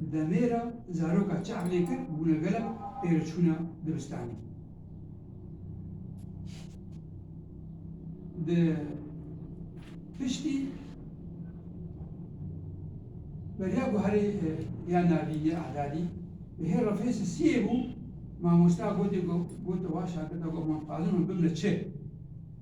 Di demê re zaroka çav lê kir bûne gelek pêreçûna dibistanê. Di piştî beriya guherê ya Navînê Adadî bi hê refêsê siyê bû, mamosta gotê ku gote wan şagirda ku aman dixwazin hûn bibine çi?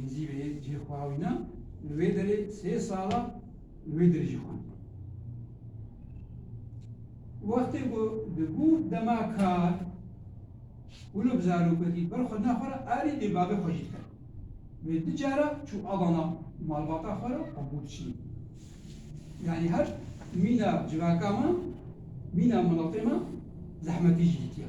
Gizî vê yek cî xwawîna, li wê derê sê sala li wê dir jî xwend. Wextê ku dibû dema kar, hûn û bi zarokekî ber xwe dina xwe re erê lê bavê xwe jî dikir. Wê du cara çû alana malbata xwe re û bû diçî. Yanî her mîna civaka me, mîna miletê me zehmetî jî ditiya.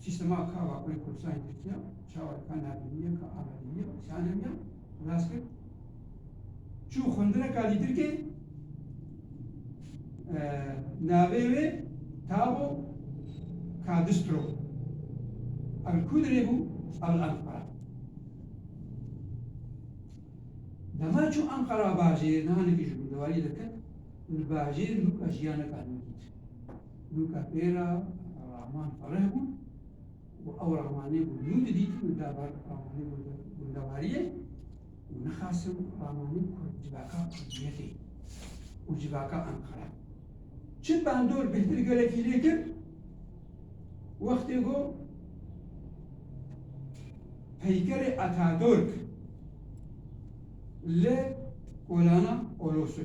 Sîstema ka Vakurê Kurdistan yê Tirkiye çawa dika navînîye ka Amedîyîye û Sanemîye rast kir çû xwendineka dî Tirkê navê wê Tabo Kadistro a li kû dirê bû a li Enqara dema çû Enqara bajêr niha nekî ji gundewarî derket li bajêr nûka jiyaneka nû dît Nûka pê re raman fereh bûn û ew ramanê ku nû didîtin li derbar ramanê ku di gundewariyê û nixasim ramanê ku civaka kurdiyetê û civaka Enqere çi bandor bêhtir gelekî lê kir wextê ku peykerê Atadurk li kolana Olosû.